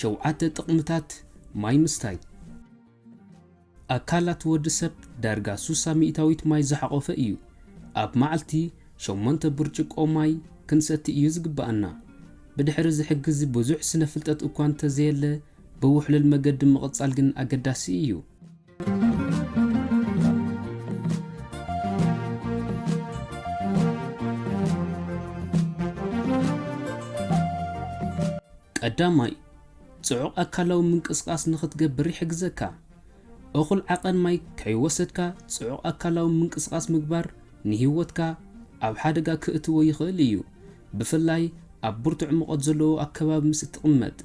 ሸውዓተ ጥቕምታት ማይ ምስታይ ኣካላት ወዲ ሰብ ዳርጋ ሱሳ ሚእታዊት ማይ ዝሓቖፈ እዩ። ኣብ መዓልቲ ሸሞንተ ብርጭቆ ማይ ክንሰቲ እዩ ዝግብኣና። ብድሕሪ እዚ ሕግዚ ብዙሕ ስነ ፍልጠት እኳ እንተዘየለ ብውሕሉል መገዲ ምቕጻል ግን ኣገዳሲ እዩ። ቀዳማይ፣ ጽዑቕ ኣካላዊ ምንቅስቓስ ንኽትገብር ይሕግዘካ። እኹል ዓቐን ማይ ከይወሰድካ ጽዑቕ ኣካላዊ ምንቅስቓስ ምግባር ንህይወትካ ኣብ ሓደጋ ክእትዎ ይኽእል እዩ፣ ብፍላይ ኣብ ብርቱዕ ሙቐት ዘለዎ ኣከባቢ ምስ እትቕመጥ።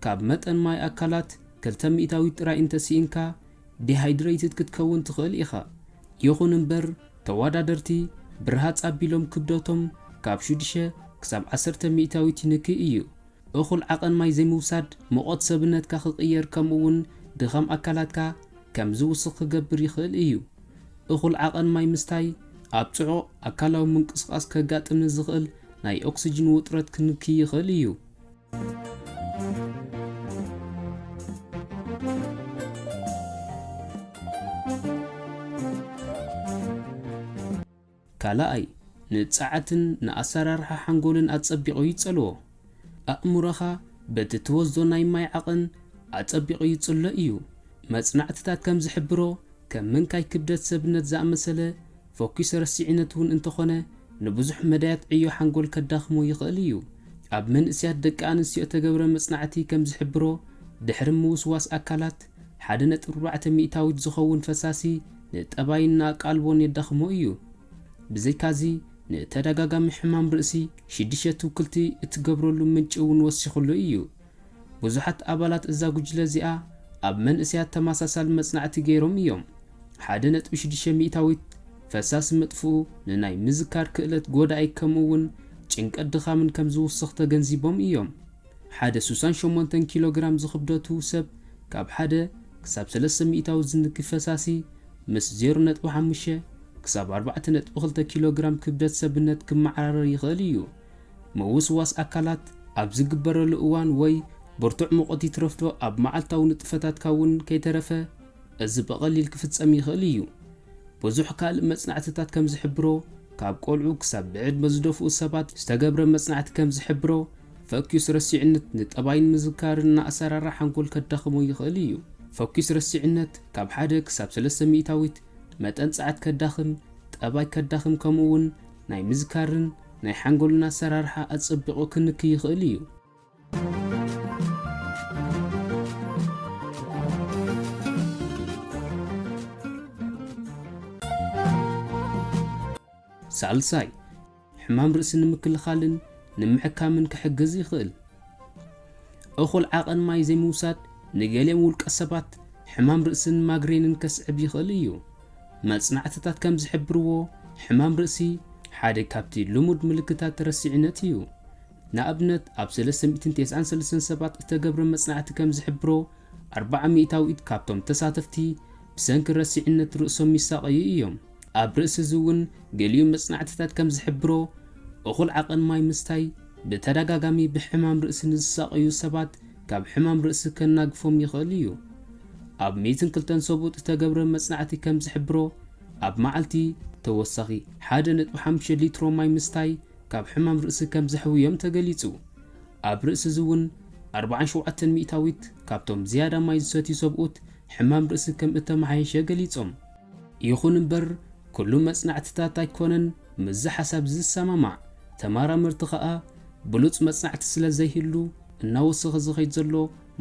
ካብ መጠን ማይ ኣካላት ክልተ ሚእታዊት ጥራይ እንተ ስኢንካ ዲሃይድረይትድ ክትከውን ትኽእል ኢኻ። ይኹን እምበር ተወዳደርቲ ብርሃጽ ኣቢሎም ክብደቶም ካብ ሽዱሽተ ክሳብ ዓሰርተ ሚእታዊት ይንኪ እዩ። እኹል ዓቐን ማይ ዘይምውሳድ ሙቐት ሰብነትካ ክቕየር ከምኡ'ውን ድኻም ኣካላትካ ከም ዝውስኽ ክገብር ይኽእል እዩ። እኹል ዓቐን ማይ ምስታይ ኣብ ጽዑቕ ኣካላዊ ምንቅስቓስ ከጋጥም ንዝኽእል ናይ ኦክስጅን ውጥረት ክንኪ ይኽእል እዩ። ካልኣይ፣ ንጸዓትን ንኣሰራርሓ ሓንጎልን ኣጸቢቑ ይጸልዎ። ኣእምሮኻ በቲ ትወስዶ ናይ ማይ ዓቕን ኣጸቢቑ ይጽሎ እዩ። መጽናዕትታት ከም ዝሕብሮ፣ ከም ምንካይ ክብደት ሰብነት ዝኣመሰለ ፎኪሰ ረሲዒነት እውን እንተኾነ ንብዙሕ መዳያት ዕዮ ሓንጎል ከዳኽሞ ይኽእል እዩ። ኣብ መንእሰያት ደቂ ኣንስትዮ እተገብረ መጽናዕቲ ከም ዝሕብሮ፣ ድሕሪ ምውስዋስ ኣካላት፣ ሓደ ነጥቢ ኣርባዕተ ሚእታዊት ዝኸውን ፈሳሲ ንጠባይን ንኣቃልቦን የዳኽሞ እዩ። ብዘይካዚ፣ ንተዳጋጋሚ ሕማም ርእሲ፣ ሽድሸ ትውክልቲ እትገብረሉ ምንጪ እውን ወሲኹሉ እዩ። ብዙሓት ኣባላት እዛ ጕጅለ እዚኣ ኣብ መንእሰያት ተመሳሳሊ መጽናዕቲ ገይሮም እዮም። ሓደ ነጥቢ ሽዱሽተ ሚእታዊት ፈሳሲ ምጥፍኡ ንናይ ምዝካር ክእለት ጐዳኢ ከምኡውን ጭንቀት ድኻምን ከም ዝውስኽ ተገንዚቦም እዮም። ሓደ ሱሳን ሸሞንተን ኪሎ ግራም ዝኽብደቱ ሰብ ካብ ሓደ ክሳብ ሰለስተ ሚእታዊት ዝንኪ ፈሳሲ ምስ ዜሮ ነጥቢ ሓሙሽተ ክሳብ ኣርባዕተ ነጥቢ ክልተ ኪሎ ግራም ክብደት ሰብነት ክመዓራረር ይኽእል እዩ። ምውስዋስ ኣካላት ኣብ ዚግበረሉ እዋን ወይ ብርቱዕ ሙቐት ይትረፍዶ ኣብ መዓልታዊ ንጥፈታትካ እውን ከይተረፈ እዚ ብቐሊል ኪፍጸም ይኽእል እዩ። ብዙሕ ካልእ መጽናዕትታት ከም ዚሕብሮ፣ ካብ ቈልዑ ክሳብ ብዕድመ ዝደፍኡ ሰባት ዝተገብረ መጽናዕቲ ከም ዚሕብሮ፣ ፈኲስ ረሲዕነት ንጠባይን ምዝካርን ንኣሰራርሓ ሓንጎል ከዳኽሞ ይኽእል እዩ። ፈኲስ ረሲዕነት ካብ ሓደ ክሳብ ሰለስተ ሚእታዊት መጠን ጸዓት ከዳኽም፣ ጠባይ ከዳኽም ከምኡውን ናይ ምዝካርን፣ ናይ ሓንጎልና ኣሰራርሓ ኣጸቢቑ ክንክይ ይኽእል እዩ። ሳልሳይ፣ ሕማም ርእሲ ንምክልኻልን ንምሕካምን ክሕግዝ ይኽእል። እኹል ዓቐን ማይ ዘይምውሳድ ንገሊኦም ውልቀሰባት ሕማም ርእስን ማግሬንን ከስዕብ ይኽእል እዩ። መጽናዕትታት ከም ዝሕብርዎ፣ ሕማም ርእሲ ሓደ ካብቲ ልሙድ ምልክታት ረሲዕነት እዩ። ንኣብነት፣ ኣብ ሰለስተ ሚእትን ቴስዓን ሰለስተን ሰባት እተገብረ መጽናዕቲ ከም ዝሕብሮ፣ ኣርብዓ ሚእታዊት ካብቶም ተሳተፍቲ ብሰንኪ ረሲዕነት ርእሶም ይሳቐዩ እዮም። ኣብ ርእሲ እዚ እውን ገሊኡ መጽናዕትታት ከም ዝሕብሮ፣ እኹል ዓቐን ማይ ምስታይ ብተደጋጋሚ ብሕማም ርእሲ ንዝሳቐዩ ሰባት ካብ ሕማም ርእሲ ከናግፎም ይኽእል እዩ። ኣብ ሚእትን ክልተን ሰብኡት እተገብረ መጽናዕቲ ከም ዝሕብሮ፣ ኣብ መዓልቲ ተወሳኺ ሓደ ነጥቢ ሓሙሽተ ሊትሮ ማይ ምስታይ ካብ ሕማም ርእሲ ከም ዘሕውዮም ተገሊጹ። ኣብ ርእሲ እዚ እውን ኣርብዓን ሸውዓተን ሚእታዊት ካብቶም ዝያዳ ማይ ዝሰትዩ ሰብኡት ሕማም ርእሲ ከም እተመሓየሸ ገሊጾም። ይኹን እምበር፣ ኵሉ መጽናዕትታት ኣይኰነን። ምስዚ ሓሳብ ዝሰማማዕ ተመራመርቲ ከኣ ብሉጽ መጽናዕቲ ስለ ዘይህሉ እናወሰኸ ዝኸይድ ዘሎ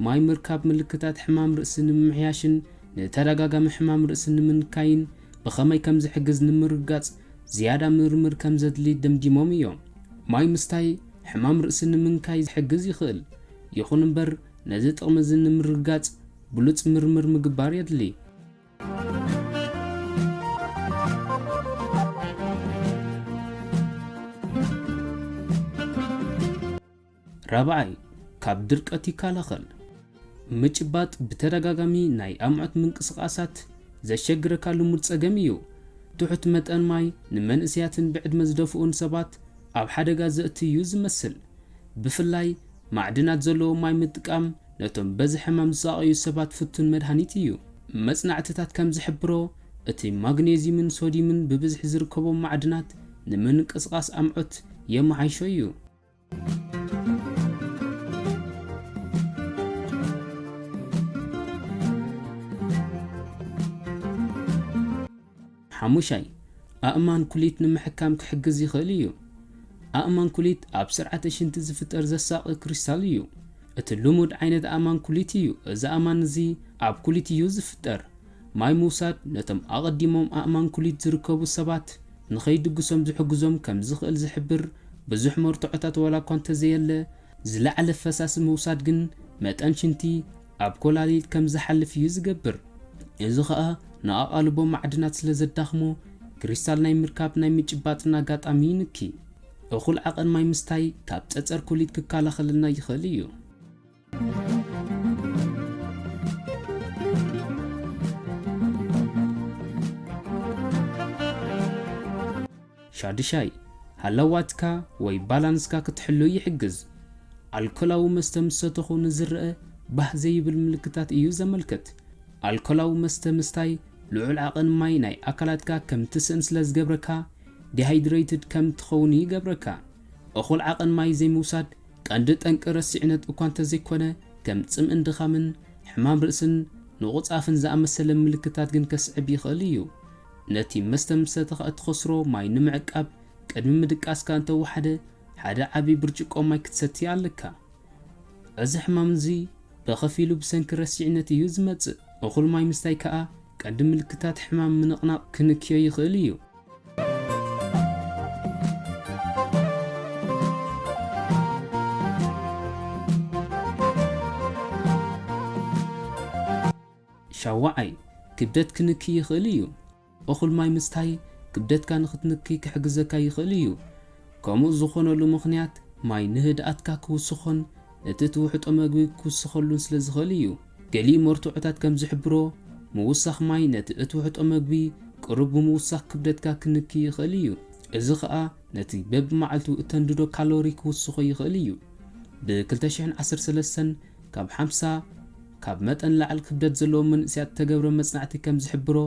ማይ ምርካብ ምልክታት ሕማም ርእሲ ንምምሕያሽን ንተደጋጋሚ ሕማም ርእሲ ንምንካይን ብኸመይ ከም ዝሕግዝ ንምርግጋጽ ዝያዳ ምርምር ከም ዘድሊ ደምዲሞም እዮም። ማይ ምስታይ ሕማም ርእሲ ንምንካይ ዝሕግዝ ይኽእል፣ ይኹን እምበር ነዚ ጥቕሚ እዚ ንምርግጋጽ ብሉጽ ምርምር ምግባር የድሊ። ራብዓይ፣ ካብ ድርቀት ይከላኸል። ምጭባጥ ብተደጋጋሚ ናይ ኣምዑት ምንቅስቓሳት ዘሸግረካ ልሙድ ጸገም እዩ። ትሑት መጠን ማይ ንመንእሰያትን ብዕድመ ዝደፍኡን ሰባት ኣብ ሓደጋ ዘእቱ እዩ ዝመስል፣ ብፍላይ ማዕድናት ዘለዎ ማይ ምጥቃም ነቶም በዚ ሕማም ዝሳቐዩ ሰባት ፍቱን መድሃኒት እዩ። መጽናዕትታት ከም ዝሕብሮ፣ እቲ ማግኔዝዩምን ሶድዩምን ብብዝሒ ዝርከቦም ማዕድናት ንምንቅስቓስ ኣምዑት የመሓይሾ እዩ። ሓሙሻይ፣ ኣእማን ኩሊት ንምሕካም ክሕግዝ ይኽእል እዩ። ኣእማን ኩሊት ኣብ ስርዓተ ሽንቲ ዝፍጠር ዘሳቒ ክሪስታል እዩ። እቲ ልሙድ ዓይነት ኣእማን ኩሊት እዩ። እዚ ኣእማን እዚ ኣብ ኩሊት እዩ ዝፍጠር። ማይ ምውሳድ ነቶም ኣቐዲሞም ኣእማን ኩሊት ዝርከቡ ሰባት ንኸይድግሶም ዝሕግዞም ከም ዝኽእል ዝሕብር ብዙሕ መርትዖታት ዋላ እኳ እንተዘየለ፣ ዝለዓለ ፈሳሲ ምውሳድ ግን መጠን ሽንቲ ኣብ ኮላሊት ከም ዝሓልፍ እዩ ዝገብር። እዚ ኸኣ ንኣቓልቦ ማዕድናት ስለ ዘዳኽሞ ክሪስታል ናይ ምርካብ ናይ ምጭባጥን ኣጋጣሚ ይንኪ። እኹል ዓቐን ማይ ምስታይ ካብ ጸጸር ኮሊት ክከላኸለልና ይኽእል እዩ። ሻዱሻይ፣ ሃለዋትካ ወይ ባላንስካ ክትሕሉ ይሕግዝ። ኣልኮላዊ መስተ ምስ ሰተኹ ንዝረኣ ባህ ዘይብል ምልክታት እዩ ዘመልክት። ኣልኮላዊ መስተ ምስታይ ልዑል ዓቐን ማይ ናይ ኣካላትካ ከም ትስእን ስለ ዝገብረካ፣ ዲሃይድረይትድ ከም ትኸውን ይገብረካ። እኹል ዓቐን ማይ ዘይምውሳድ ቀንዲ ጠንቂ ረሲዕነት እኳ እንተዘይኮነ፣ ከም ጽምእን ድኻምን፣ ሕማም ርእስን ንቑጽ ኣፍን ዝኣመሰለ ምልክታት ግን ከስዕብ ይኽእል እዩ። ነቲ መስተ ምስ ሰተኻ እትኸስሮ ማይ ንምዕቃብ፣ ቅድሚ ምድቃስካ እንተ ወሓደ ሓደ ዓቢ ብርጭቆ ማይ ክትሰቲ ኣለካ። እዚ ሕማም እዚ ብኸፊሉ ብሰንኪ ረሲዕነት እዩ ዝመጽእ። እኹል ማይ ምስታይ ከኣ ቀንዲ ምልክታት ሕማም ምንቕናቕ ክንክዮ ይኽእል እዩ። ሻውዓይ፣ ክብደት ክንኪ ይኽእል እዩ። እኹል ማይ ምስታይ ክብደትካ ንኽትንኪ ክሕግዘካ ይኽእል እዩ። ከምኡ ዝኾነሉ ምኽንያት ማይ ንህድኣትካ ክውስኾን እቲ ትውሕጦ መግቢ ክውስኸሉን ስለ ዝኽእል እዩ። ገሊኡ መርትዖታት ከም ዝሕብሮ ምውሳኽ ማይ ነቲ እትውሕጦ መግቢ ቅሩብ ብምውሳኽ ክብደትካ ክንኪ ይኽእል እዩ። እዚ ኸኣ ነቲ በብመዓልቱ እተንድዶ ካሎሪ ክውስኾ ይኽእል እዩ። ብ ክልተ ሽሕን ዓሰርተ ሰለስተን ካብ ሓምሳ። ካብ መጠን ላዕል ክብደት ዘለዎም መንእሰያት እተገብረ መጽናዕቲ ከም ዝሕብሮ፣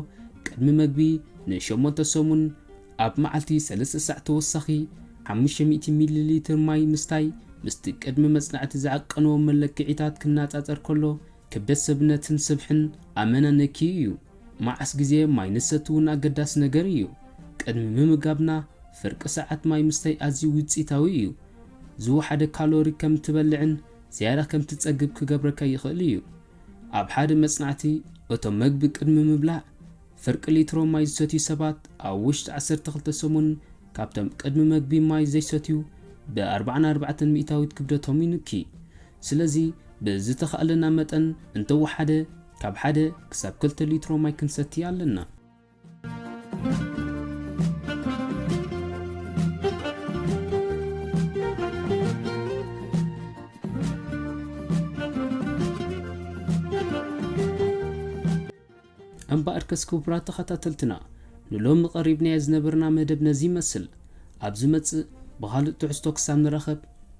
ቅድሚ መግቢ ን ሸሞንተ ሰሙን ኣብ መዓልቲ ሰለስተ ሳዕ ተወሳኺ ሓሙሽተ ሚእቲ ሚሊ ሊትር ማይ ምስታይ ምስቲ ቅድሚ መጽናዕቲ ዝዓቀንዎ መለክዒታት ክነጻጸር ከሎ ክብደት ሰብነትን ስብሕን ኣመና ነክዩ እዩ። መዓስ ግዜ ማይ ንሰቲ እውን ኣገዳሲ ነገር እዩ። ቅድሚ ምምጋብና ፍርቂ ሰዓት ማይ ምስታይ ኣዝዩ ውጽኢታዊ እዩ። ዝወሓደ ካሎሪ ከም እትበልዕን ዝያዳ ከም ትጸግብ ኪገብረካ ይኽእል እዩ። ኣብ ሓደ መጽናዕቲ፣ እቶም መግቢ ቅድሚ ምብላዕ ፍርቂ ሊትሮ ማይ ዝሰትዩ ሰባት ኣብ ውሽጢ ዓሰርተ ክልተ ሰሙን ካብቶም ቅድሚ መግቢ ማይ ዘይሰትዩ ብ ኣርብዓን ኣርባዕተን ሚእታዊት ክብደቶም ይንኪ። ስለዚ ብዝተኻእለና መጠን እንተወሓደ ካብ ሓደ ክሳብ ክልተ ሊትሮ ማይ ክንሰቲ ኣለና። እምበኣርከስ ክቡራት ተኸታተልትና ንሎሚ ቀሪብናዮ ዝነበርና መደብ ነዚ ይመስል። ኣብ ዝመጽእ ብኻልእ ትሕዝቶ ክሳብ ንራኸብ፣